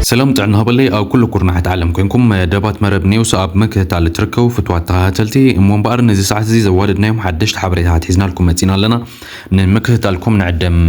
ሰላም ጥዕና ሃበለይ ኣብ ኩሉ ኩርናሕት ዓለም ኮንኩም ደባት መረብ ኔውስ ኣብ ምክትታል እትርከቡ ፍትዋት ተኸታተልቲ እሞ እምበኣር ነዚ ሰዓት እዚ ዘዋደድናዮም ሓደሽቲ ሓበሬታታት ሒዝናልኩም መፂና ኣለና ንምክትታልኩም ንዕደም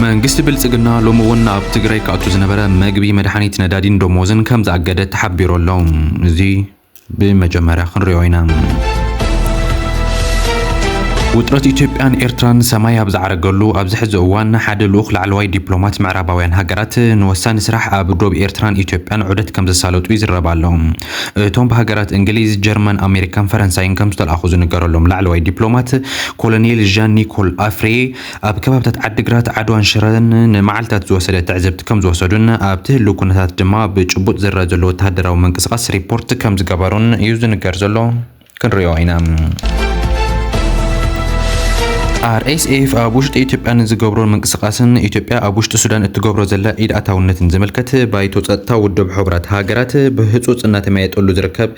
መንግስቲ ብልፅግና ሎሚ እውን ኣብ ትግራይ ክኣቱ ዝነበረ መግቢ መድሓኒት ነዳዲን ደሞዝን ከም ዝኣገደ ተሓቢሩ ኣሎ እዚ ብመጀመርያ ክንሪኦ ኢና። ውጥረት ኢትዮጵያን ኤርትራን ሰማይ ኣብ ዝዓረገሉ ኣብዚ ሕዚ እዋን ሓደ ልኡኽ ላዕለዋይ ዲፕሎማት ምዕራባውያን ሃገራት ንወሳኒ ስራሕ ኣብ ዶብ ኤርትራን ኢትዮጵያን ዑደት ከምዘሳለጡ ይዝረብ ኣሎ። እቶም ብሃገራት እንግሊዝ፣ ጀርመን፣ ኣሜሪካን ፈረንሳይን ከምዝተልኣኹ ዝንገረሎም ላዕለዋይ ዲፕሎማት ኮሎኔል ዣን ኒኮል ኣፍሬ ኣብ ከባብታት ዓዲግራት፣ ዓድዋን ሽረን ንመዓልታት ዝወሰደ ትዕዝብቲ ከምዝወሰዱን ኣብቲ ህልው ኩነታት ድማ ብጭቡጥ ዝረኣ ዘሎ ወተሃደራዊ ምንቅስቓስ ሪፖርት ከምዝገበሩን እዩ ዝንገር ዘሎ። ክንሪኦ ኢና። RSF ኣብ ውሽጢ ኢትዮጵያ ንዝገብሮ ምንቅስቓስን ኢትዮጵያ ኣብ ውሽጢ ሱዳን እትገብሮ ዘላ ኢድ ኣታውነትን ዝምልከት ባይቶ ጸጥታ ውድብ ሕቡራት ሃገራት ብህጹጽ እናተመያየጠሉ ዝርከብ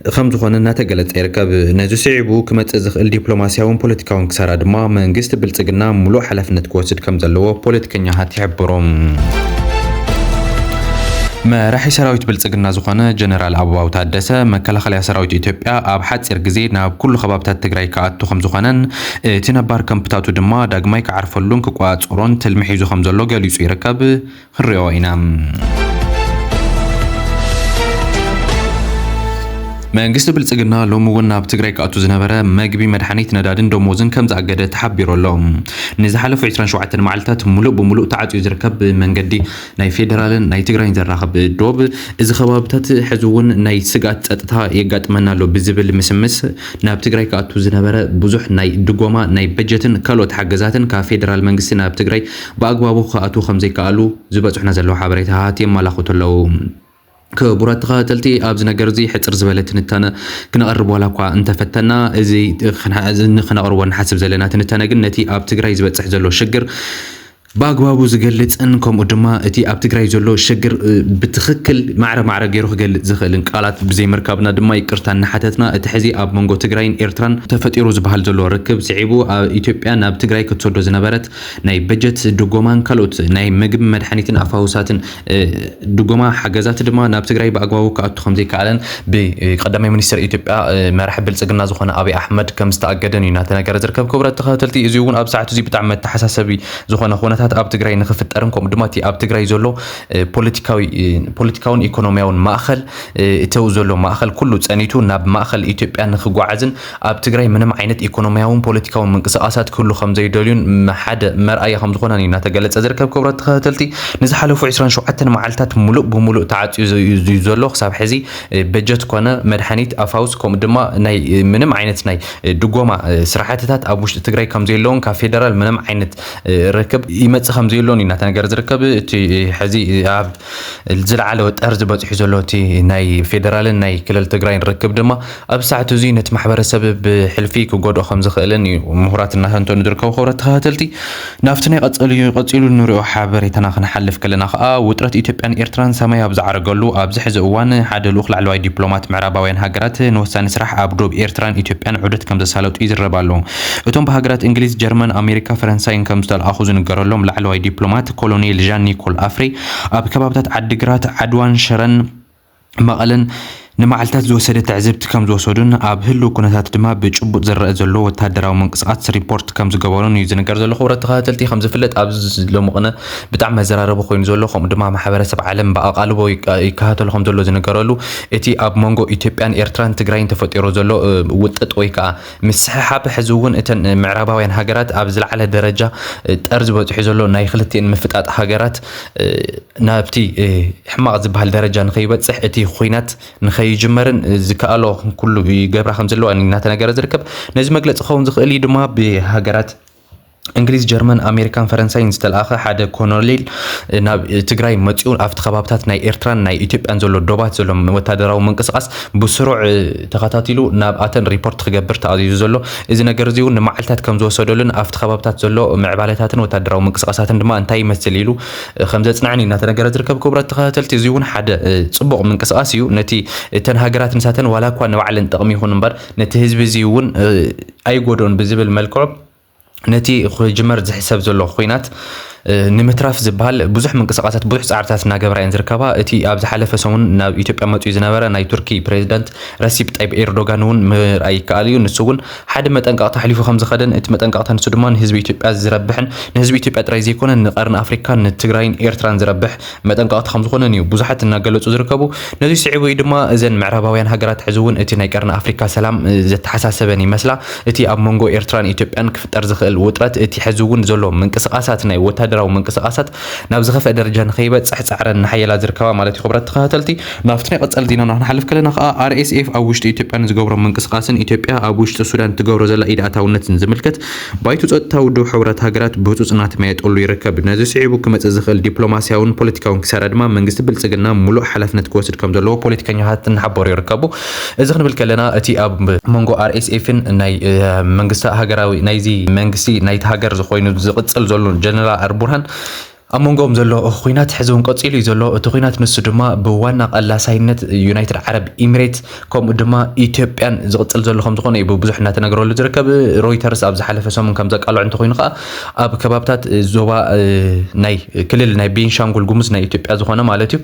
ከም ዝኾነ እናተገለፀ ይርከብ። ነዚ ስዒቡ ክመፅእ ዝኽእል ዲፕሎማሲያውን ፖለቲካውን ክሳራ ድማ መንግስቲ ብልፅግና ሙሉእ ሓላፍነት ክወስድ ከም ዘለዎ ፖለቲከኛታት ይሕብሩ። መራሒ ሰራዊት ብልፅግና ዝኾነ ጀነራል ኣበባው ታደሰ መከላኸልያ ሰራዊት ኢትዮጵያ ኣብ ሓፂር ግዜ ናብ ኩሉ ከባብታት ትግራይ ክኣቱ ከም ዝኾነን እቲ ነባር ከምፕታቱ ድማ ዳግማይ ክዓርፈሉን ክቆፃፀሮን ትልሚ ሒዙ ከም ዘሎ ገሊፁ ይርከብ። ክንሪኦ ኢና። መንግስቲ ብልፅግና ሎሚ እውን ናብ ትግራይ ክኣቱ ዝነበረ መግቢ፣ መድሓኒት፣ ነዳድን ደሞዝን ከምዝኣገደ ተሓቢሩ ኣሎ። ንዝሓለፉ ዕስራን ሸውዓተን መዓልታት ሙሉእ ብሙሉእ ተዓፅዩ ዝርከብ ብመንገዲ ናይ ፌደራልን ናይ ትግራይን ዘራኽብ ዶብ እዚ ከባብታት ሕዚ እውን ናይ ስግኣት ፀጥታ የጋጥመና ኣሎ ብዝብል ምስምስ ናብ ትግራይ ክኣቱ ዝነበረ ብዙሕ ናይ ድጎማ ናይ በጀትን ካልኦት ሓገዛትን ካብ ፌደራል መንግስቲ ናብ ትግራይ ብኣግባቡ ክኣትዉ ከምዘይከኣሉ ዝበጽሑና ዘለዉ ሓበሬታ ሃሃት የማላኹቱ ኣለዉ። ክቡራት ተኸታተልቲ ኣብዚ ነገር እዚ ሕጽር ዝበለ ትንታነ ክነቕርብ ዋላ እኳ እንተፈተና እዚ ንክነቕርቦ ንሓስብ ዘለና ትንታነ ግን ነቲ ኣብ ትግራይ ዝበጽሕ ዘሎ ሽግር ብኣግባቡ ዝገልጽን ከምኡ ድማ እቲ ኣብ ትግራይ ዘሎ ሸግር ብትኽክል ማዕረ ማዕረ ገይሩ ክገልጽ ዝኽእልን ቃላት ብዘይምርካብና ድማ ይቅርታ እናሓተትና እቲ ሕዚ ኣብ መንጎ ትግራይን ኤርትራን ተፈጢሩ ዝበሃል ዘሎ ርክብ ስዒቡ ኢትዮጵያ ናብ ትግራይ ክትሰዶ ዝነበረት ናይ በጀት ድጎማን ካልኦት ናይ ምግብ መድሓኒትን ኣፋውሳትን ድጎማ ሓገዛት ድማ ናብ ትግራይ ብኣግባቡ ክኣቱ ከምዘይከኣለን ብቀዳማይ ሚኒስትር ኢትዮጵያ መራሒ ብልፅግና ዝኾነ ኣብይ ኣሕመድ ከምዝተኣገደን እዩ እናተነገረ ዝርከብ። ክቡራት ተኸታተልቲ እዚ እውን ኣብ ሰዓት እዚ ብጣዕሚ መተሓሳሰቢ ዝኾነ ኩነታት ኣብ ትግራይ ንክፍጠርን ከምኡ ድማ እቲ ኣብ ትግራይ ዘሎ ፖለቲካዊ ፖለቲካውን ኢኮኖሚያውን ማእኸል እተው ዘሎ ማእኸል ኩሉ ፀኒቱ ናብ ማእኸል ኢትዮጵያ ንክጓዓዝን ኣብ ትግራይ ምንም ዓይነት ኢኮኖሚያውን ፖለቲካውን ምንቅስቃሳት ክህሉ ከምዘይደልዩን ሓደ መርኣያ ከምዝኾነን እዩ እናተገለፀ ዝርከብ። ክብረት ተኸታተልቲ ንዝሓለፉ ዕስራን ሸውዓተን መዓልታት ሙሉእ ብሙሉእ ተዓፅዩ እዩ ዘሎ። ክሳብ ሕዚ በጀት ኮነ መድሓኒት፣ ኣፋውስ ከምኡ ድማ ናይ ምንም ዓይነት ናይ ድጎማ ስራሕትታት ኣብ ውሽጢ ትግራይ ከምዘየለውን ካብ ፌደራል ምንም ዓይነት ርክብ ይመፅእ ከምዘየሎን እዩ እናተነገረ ዝርከብ። እቲ ሕዚ ኣብ ዝለዓለ ጠርዚ በፂሑ ዘሎ እቲ ናይ ፌደራልን ናይ ክልል ትግራይን ርክብ ድማ ኣብ ሰዓት እዙይ ነቲ ማሕበረሰብ ብሕልፊ ክጎድኦ ከም ዝኽእልን እዩ ምሁራት እናተንተኑ ዝርከቡ ክብረት ተኸታተልቲ ናብቲ ናይ ቀፀልዩ ቀፂሉ ንሪኦ ሓበሬታና ክንሓልፍ ከለና ከዓ ውጥረት ኢትዮጵያን ኤርትራን ሰማይ ኣብ ዝዓረገሉ ኣብዚ ሕዚ እዋን ሓደ ልኡኽ ላዕለዋይ ዲፕሎማት ምዕራባውያን ሃገራት ንወሳኒ ስራሕ ኣብ ዶብ ኤርትራን ኢትዮጵያን ዑደት ከም ዘሳለጡ ይዝረብ ኣሎ እቶም ብሃገራት እንግሊዝ፣ ጀርመን፣ ኣሜሪካ፣ ፈረንሳይን ከም ዝተልኣኹ ዝንገረሎም ላዕለዋይ ዲፕሎማት ኮሎኔል ዣን ኒኮል ኣፍሬ ኣብ ከባብታት ዓዲግራት፣ ዓድዋን ሽረን መቐለን ንመዓልታት ዝወሰደ ትዕዝብቲ ከም ዝወሰዱን ኣብ ህልው ኩነታት ድማ ብጭቡጥ ዝረኣ ዘሎ ወታደራዊ ምንቅስቓት ሪፖርት ከም ዝገበሩን እዩ ዝንገር ዘሎ። ክቡራት ተኸታተልቲ ከም ዝፍለጥ ኣብዚ ሎሚ ቅነ ብጣዕሚ መዘራረቢ ኮይኑ ዘሎ ከምኡ ድማ ማሕበረሰብ ዓለም ብኣቓልቦ ይከታተሎ ከም ዘሎ ዝንገረሉ እቲ ኣብ መንጎ ኢትዮጵያን ኤርትራን ትግራይን ተፈጢሩ ዘሎ ውጥጥ ወይ ከዓ ምስሕሓብ ሕዚ እውን እተን ምዕራባውያን ሃገራት ኣብ ዝለዓለ ደረጃ ጠርዚ በፂሑ ዘሎ ናይ ክልቲኤን ምፍጣጥ ሃገራት ናብቲ ሕማቕ ዝበሃል ደረጃ ንከይበፅሕ እቲ ኩናት ንከይጅመርን ዝከኣሎ ኩሉ ይገብራ ከም ዘለዋ እናተነገረ ዝርከብ ነዚ መግለፂ ክኸውን ዝኽእል እዩ ድማ ብሃገራት እንግሊዝ፣ ጀርመን፣ ኣሜሪካን ፈረንሳይን ዝተልኣኸ ሓደ ኮኖሌል ናብ ትግራይ መፂኡ ኣብቲ ከባብታት ናይ ኤርትራን ናይ ኢትዮጵያን ዘሎ ዶባት ዘሎ ወታደራዊ ምንቅስቓስ ብስሩዕ ተኸታቲሉ ናብ ኣተን ሪፖርት ክገብር ተኣዚዙ ዘሎ እዚ ነገር እዚ እውን ንመዓልታት ከም ዝወሰደሉን ኣብቲ ከባብታት ዘሎ ምዕባለታትን ወታደራዊ ምንቅስቓሳትን ድማ እንታይ ይመስል ኢሉ ከም ዘፅንዐን እዩ እናተነገረ ዝርከብ ክቡራት ተኸታተልቲ እዚ እውን ሓደ ፅቡቕ ምንቅስቓስ እዩ ነቲ እተን ሃገራት ንሳተን ዋላ እኳ ንባዕለን ጥቕሚ ይኹን እምበር ነቲ ህዝቢ እዚ እውን ኣይጎድኦን ብዝብል መልክዑ ነቲ ክጅመር ዝሕሰብ ዘሎ ኹናት ንምትራፍ ዝበሃል ብዙሕ ምንቅስቃሳት ብዙሕ ፃዕርታት እናገበራ እየን ዝርከባ እቲ ኣብ ዝሓለፈ ሰሙን ናብ ኢትዮጵያ መፅኡ ዝነበረ ናይ ቱርኪ ፕሬዚዳንት ረሲፕ ጣይብ ኤርዶጋን እውን ምርኣይ ይከኣል እዩ ንሱ እውን ሓደ መጠንቀቕታ ኣሕሊፉ ከም ዝኸደን እቲ መጠንቀቕታ ንሱ ድማ ንህዝቢ ኢትዮጵያ ዝረብሕን ንህዝቢ ኢትዮጵያ ጥራይ ዘይኮነ ንቀርኒ ኣፍሪካን ንትግራይን ኤርትራን ዝረብሕ መጠንቀቕታ ከም ዝኾነን እዩ ብዙሓት እናገለጹ ዝርከቡ። ነዙይ ስዒቡ እዩ ድማ እዘን ምዕራባውያን ሃገራት ሕዚ እውን እቲ ናይ ቀርኒ ኣፍሪካ ሰላም ዘተሓሳሰበን ይመስላ። እቲ ኣብ መንጎ ኤርትራን ኢትዮጵያን ክፍጠር ዝኽእል ውጥረት እቲ ሕዚ እውን ዘሎ ምንቅስቓሳት ናይ ወታደራዊ ምንቅስቓሳት ናብ ዝኸፍአ ደረጃ ንኸይበጽሕ ጻዕረን እናሓየላ ዝርከባ ማለት እዩ። ክብራት ተኸታተልቲ ናብቲ ናይ ቐጻሊ ዜናና ክንሓልፍ ከለና ከኣ RSF ኣብ ውሽጢ ኢትዮጵያ ንዝገብሮ ምንቅስቓስን ኢትዮጵያ ኣብ ውሽጢ ሱዳን እትገብሮ ዘላ ኢድ ኣታውነትን ዝምልከት ባይቶ ጸጥታ ውድብ ሕቡራት ሃገራት ብህጹጽ እናተመያየጠሉ ይርከብ። ነዚ ስዒቡ ክመጽእ ዝኽእል ዲፕሎማስያውን ፖለቲካውን ኪሳራ ድማ መንግስቲ ብልጽግና ምሉእ ሓላፍነት ክወስድ ከም ዘለዎ ፖለቲከኛታት እናሓበሩ ይርከቡ። እዚ ክንብል ከለና እቲ ኣብ መንጎ ኣርኤስኤፍን ናይ መንግስቲ ሃገራዊ ናይዚ መንግስቲ ናይቲ ሃገር ኮይኑ ዝቕጽል ዘሎን ጀነራል ኣልቡርሃን ኣብ መንጎኦም ዘሎ ኹናት ሕዚ እውን ቀፂሉ እዩ ዘሎ። እቲ ኹናት ንሱ ድማ ብዋና ቀላሳይነት ዩናይትድ ዓረብ ኢሚሬት ከምኡ ድማ ኢትዮጵያን ዝቕፅል ዘሎ ከም ዝኾነ እዩ ብብዙሕ እናተነገረሉ ዝርከብ። ሮይተርስ ኣብ ዝሓለፈ ሰሙን ከም ዘቃልዖ እንተኾይኑ ከዓ ኣብ ከባብታት ዞባ ናይ ክልል ናይ ቤንሻንጉል ጉሙዝ ናይ ኢትዮጵያ ዝኾነ ማለት እዩ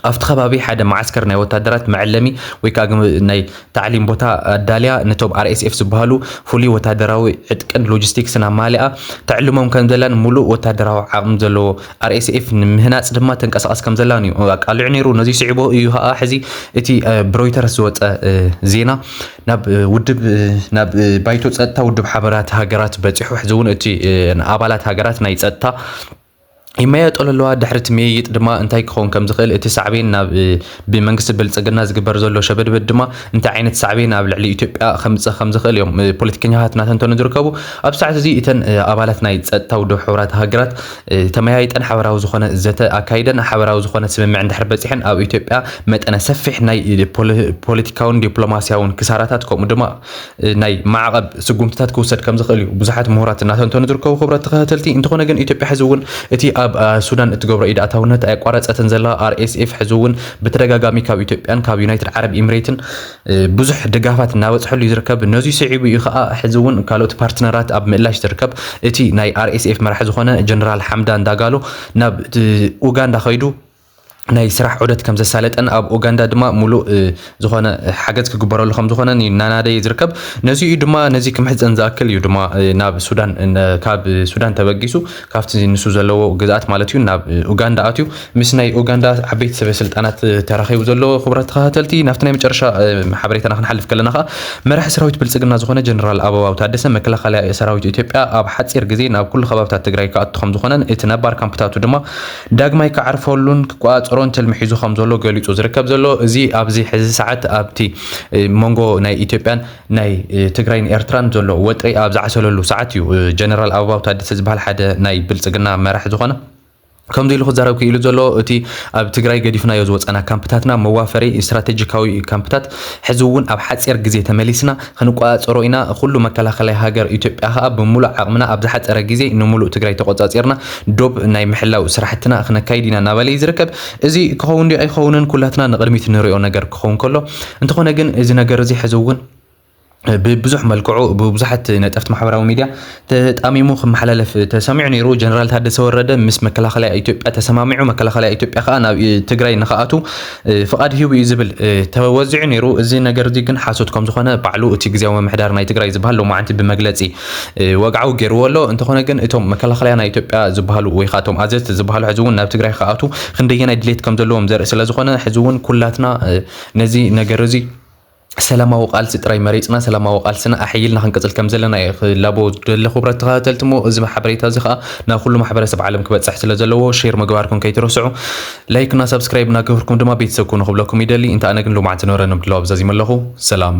ኣብቲ ከባቢ ሓደ መዓስከር ናይ ወታደራት መዐለሚ ወይ ከዓ ናይ ታዕሊም ቦታ ኣዳልያ ነቶም RSF ዝበሃሉ ፍሉይ ወታደራዊ ዕጥቅን ሎጂስቲክስን ኣማሊኣ ተዕልሞም ከም ዘላን ሙሉእ ወታደራዊ ዓቕሚ ዘለዎ RSF ንምህናፅ ድማ ተንቀሳቐስ ከም ዘላን እዩ ኣቃሊዑ ነይሩ። ነዚ ስዒቡ እዩ ከዓ ሕዚ እቲ ብሮይተርስ ዝወፀ ዜና ናብ ውድብ ናብ ባይቶ ፀጥታ ውድብ ሓበራት ሃገራት በፂሑ ሕዚ እውን እቲ ኣባላት ሃገራት ናይ ፀጥታ ይመያየጠሉ ኣለዋ። ድሕሪ እቲ ምይይጥ ድማ እንታይ ክኸውን ከም ዝኽእል እቲ ሳዕቤን ናብ ብመንግስቲ ብልጽግና ዝግበር ዘሎ ሸበድበድ ድማ እንታይ ዓይነት ሳዕቤን ኣብ ልዕሊ ኢትዮጵያ ከምጽእ ከም ዝኽእል እዮም ፖለቲከኛታት እናተንተኑ ዝርከቡ። ኣብ ሰዓት እዚ እተን ኣባላት ናይ ጸጥታ ውድብ ሕቡራት ሃገራት ተመያይጠን ሓበራዊ ዝኾነ ዘተ ኣካይደን ሓበራዊ ዝኾነ ስምምዕ እንድሕር በጺሐን ኣብ ኢትዮጵያ መጠነ ሰፊሕ ናይ ፖለቲካውን ዲፕሎማስያውን ክሳራታት ከምኡ ድማ ናይ ማዕቐብ ስጉምትታት ክውሰድ ከምዝኽእል እዩ ብዙሓት ምሁራት እናተንተኑ ዝርከቡ ክብረት ተኸታተልቲ። እንተኾነ ግን ኢትዮጵያ ሕዚ እውን እቲ ኣብ ሱዳን እትገብሮ ኢድ ኣታውነት ኣየቋረፀትን ዘላ። RSF ሕዚ እውን ብተደጋጋሚ ካብ ኢትዮጵያን ካብ ዩናይትድ ዓረብ ኢሚሬትን ብዙሕ ድጋፋት እናበፅሐሉ እዩ ዝርከብ። ነዙይ ስዒቡ እዩ ከዓ ሕዚ እውን ካልኦት ፓርትነራት ኣብ ምእላሽ ዝርከብ እቲ ናይ RSF መራሒ ዝኾነ ጀነራል ሓምዳን ዳጋሎ ናብ ኡጋንዳ ከይዱ ናይ ስራሕ ዑደት ከም ዘሳለጠን ኣብ ኡጋንዳ ድማ ሙሉእ ዝኾነ ሓገዝ ክግበረሉ ከም ዝኾነን እዩ እናናደየ ዝርከብ ነዚ እዩ ድማ ነዚ ክምሕፀን ዝኣክል እዩ ድማ ናብ ሱዳን ካብ ሱዳን ተበጊሱ ካብቲ ንሱ ዘለዎ ግዝኣት ማለት እዩ ናብ ኡጋንዳ ኣትዩ ምስ ናይ ኡጋንዳ ዓበይቲ ሰበ ስልጣናት ተራኺቡ ዘሎ ክቡራት ተኸታተልቲ ናብቲ ናይ መጨረሻ ሓበሬታና ክንሓልፍ ከለና ከዓ መራሒ ሰራዊት ብልፅግና ዝኾነ ጀነራል ኣበባው ታደሰ መከላኸሊ ሰራዊት ኢትዮጵያ ኣብ ሓፂር ግዜ ናብ ኩሉ ከባብታት ትግራይ ክኣቱ ከም ዝኾነን እቲ ነባር ካምፕታቱ ድማ ዳግማይ ክዓርፈሉን ክቆጻጸሮን ትልሚ ሒዙ ከም ዘሎ ገሊጹ ዝርከብ ዘሎ እዚ ኣብዚ ሕዚ ሰዓት ኣብቲ መንጎ ናይ ኢትዮጵያን ናይ ትግራይን ኤርትራን ዘሎ ወጥሪ ኣብ ዝዓሰለሉ ሰዓት እዩ ጀነራል ኣበባው ታደሰ ዝበሃል ሓደ ናይ ብልጽግና መራሒ ዝኾነ ከምዚ ኢሉ ክዛረብ ክኢሉ ዘሎ እቲ ኣብ ትግራይ ገዲፍናዮ ዝወፃና ካምፕታትና መዋፈሪ ስትራቴጂካዊ ካምፕታት ሕዚ እውን ኣብ ሓፂር ግዜ ተመሊስና ኽንቆፃፀሮ ኢና ኹሉ መከላኸላይ ሃገር ኢትዮጵያ ኸኣ ብሙሉእ ዓቕምና ኣብ ዝሓፀረ ግዜ ንሙሉእ ትግራይ ተቖፃፂርና ዶብ ናይ ምሕላው ስራሕትና ኽነካይድ ኢና እናበለ ዩ ዝርከብ እዚ ክኸውን ድዩ ኣይኸውንን ኩላትና ንቕድሚት ንሪኦ ነገር ክኸውን ከሎ እንተኾነ ግን እዚ ነገር እዚ ሕዚ ውን ብብዙሕ መልክዑ ብብዙሓት ነጠፍቲ ማሕበራዊ ሚድያ ተጣሚሙ ክመሓላለፍ ተሰሚዑ ነይሩ። ጀነራል ታደሰ ወረደ ምስ መከላኸሊያ ኢትዮጵያ ተሰማሚዑ፣ መከላኸሊያ ኢትዮጵያ ከኣ ናብ ትግራይ ንክኣቱ ፍቓድ ሂቡ እዩ ዝብል ተወዚዑ ነይሩ። እዚ ነገር እዚ ግን ሓሶት ከም ዝኾነ ባዕሉ እቲ ግዝያዊ ምምሕዳር ናይ ትግራይ ዝበሃል ሎማዓንቲ ብመግለጺ ወግዓዊ ገይርዎ ኣሎ። እንተኾነ ግን እቶም መከላኸሊያ ናይ ኢትዮጵያ ዝበሃሉ ወይ ከኣ እቶም ኣዘዝቲ ዝበሃሉ ሕዚ እውን ናብ ትግራይ ክኣቱ ክንደየናይ ድሌት ከም ዘለዎም ዘርኢ ስለዝኾነ ሕዚ እውን ኩላትና ነዚ ነገር እዚ ሰላማዊ ቃልሲ ጥራይ መሪጽና ሰላማዊ ቃልስና ኣሐይልና ክንቅጽል ከም ዘለና እየ ክላቦ ዝደሊ ክቡራት ተኸታተልቲ እሞ እዚ ሓበሬታ እዚ ከኣ ናብ ኩሉ ማሕበረሰብ ዓለም ክበጽሕ ስለ ዘለዎ ሼር ምግባርኩም ከይትረስዑ ላይክ እና ሰብስክራይብ እናገበርኩም ድማ ቤተሰብ ኩኑ ክብለኩም ይደሊ እንተ ኣነ ግን ሎማዕንቲ ነበረ ንምድላው ኣብዛዚመ ኣለኹ ሰላም